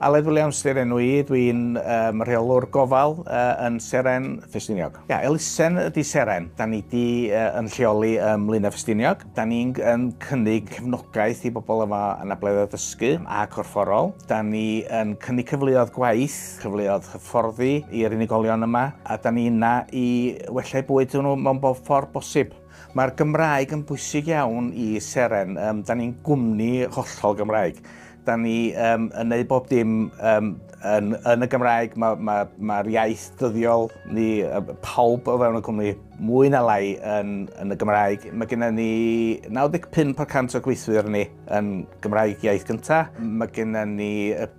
Aled Williams di'r enw i, dwi'n um, rheolwr gofal uh, yn Seren Ffestiniog. Ia, elusen ydy Seren. Da ni di uh, yn lleoli ym Mlynau Ffestiniog. Da ni'n um, cynnig cefnogaeth i bobl yma yn ableddau dysgu a corfforol. Da ni yn cynnig cyfleoedd gwaith, cyfleoedd hyfforddi i'r unigolion yma, a da ni yna i wella'u bwyd nhw mewn bob ffordd bosib. Mae'r Gymraeg yn bwysig iawn i Seren, um, da ni'n gwmni hollol Gymraeg. Da ni um, yn neud bob dim um, yn, yn y Gymraeg, mae'r ma, ma, ma iaith dyddiol ni, pawb o fewn y cwmni, mwy na lai yn, yn y Gymraeg. Mae gennym ni 95% o gweithwyr ni yn Gymraeg iaith gyntaf. Mae gennym ni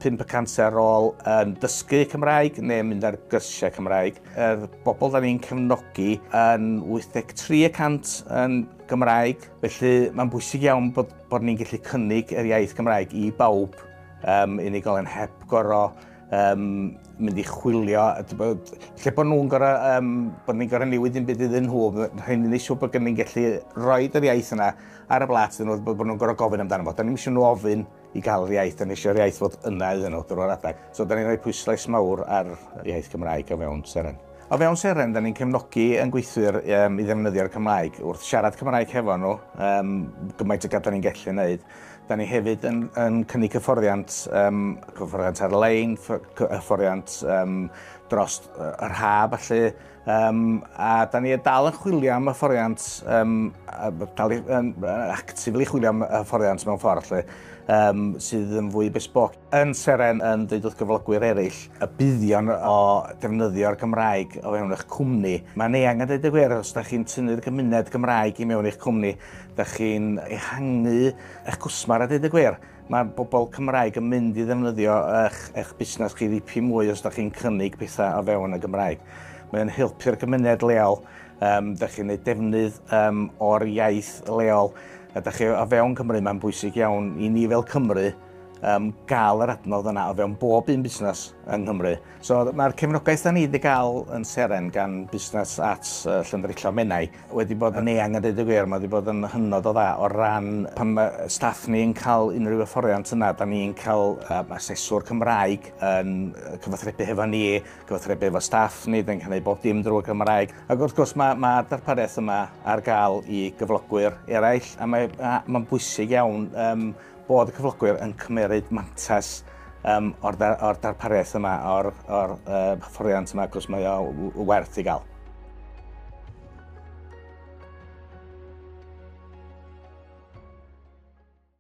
5% ar ôl yn dysgu Cymraeg neu mynd ar gyrsiau Cymraeg. yr bobl da ni'n cefnogi yn 83 y cant yn Gymraeg, felly mae'n bwysig iawn bod, bod ni'n gallu cynnig yr iaith Gymraeg i bawb, um, unigolyn heb goro um, mynd i chwilio, lle bod nhw'n goro, um, bod ni'n goro newid yn byd iddyn nhw, rhaid ni'n eisiau bod gen ni'n gallu rhoi yr iaith yna ar y blat iddyn nhw, bod nhw'n goro gofyn amdano fo. Da ni'n eisiau nhw ofyn i gael yr iaith, dan ni eisiau'r iaith fod yna iddyn nhw drwy'r adeg. So dan ni'n rhoi pwyslais mawr ar y iaith Cymraeg o fewn Seren. O fewn Seren, dan ni'n cefnogi yn gweithwyr um, i ddefnyddio'r Cymraeg. Wrth siarad Cymraeg hefo nhw, um, gymaint o gad dan ni'n gallu wneud. Dan ni hefyd yn, yn cynnig cyfforddiant, um, cyfforddiant ar-lein, cyfforddiant um, dros yr haf, felly Um, a da ni dal yn chwilio am y fforiant, um, dal i, um, actively chwilio am y fforiant mewn ffordd lle, um, sydd yn fwy besbog. Yn Seren yn dweud wrth gyflogwyr eraill y buddion o defnyddio'r Gymraeg o fewn eich cwmni. Mae'n eang yn dweud y gwir, os da chi'n tynnu'r gymuned Gymraeg i mewn eich cwmni, da chi'n ehangu eich cwsmar a dweud y gwir. Mae pobl Cymraeg yn mynd i ddefnyddio eich, eich busnes chi ddipyn mwy os da chi'n cynnig pethau o fewn y Gymraeg. Mae o'n helpu'r gymuned leol, um, da chi'n ei defnydd um, o'r iaith leol, a da chi o fewn Cymru, mae'n bwysig iawn i ni fel Cymru um, gael yr adnodd yna o fewn bob un busnes yng Nghymru. So mae'r cefnogaeth da ni wedi cael yn seren gan busnes at uh, Llyndrillo Menai wedi bod yn eang a deud y gwir, mae wedi bod yn hynod o dda o ran pan mae staff ni yn cael unrhyw hyfforddiant yna, da ni'n cael um, aseswr Cymraeg yn cyfathrebu hefo ni, cyfathrebu hefo staff ni, da ni'n cael ei bob dim drwy Cymraeg. Ac wrth gwrs mae, mae darpariaeth yma ar gael i gyflogwyr eraill a mae'n ma bwysig iawn um, Bod y cyflogwyr yn cymeryd mantais um, o'r, dar, or darpariaeth yma, o'r, or, uh, hyfforddiant yma, cwrs mae o werth i gael.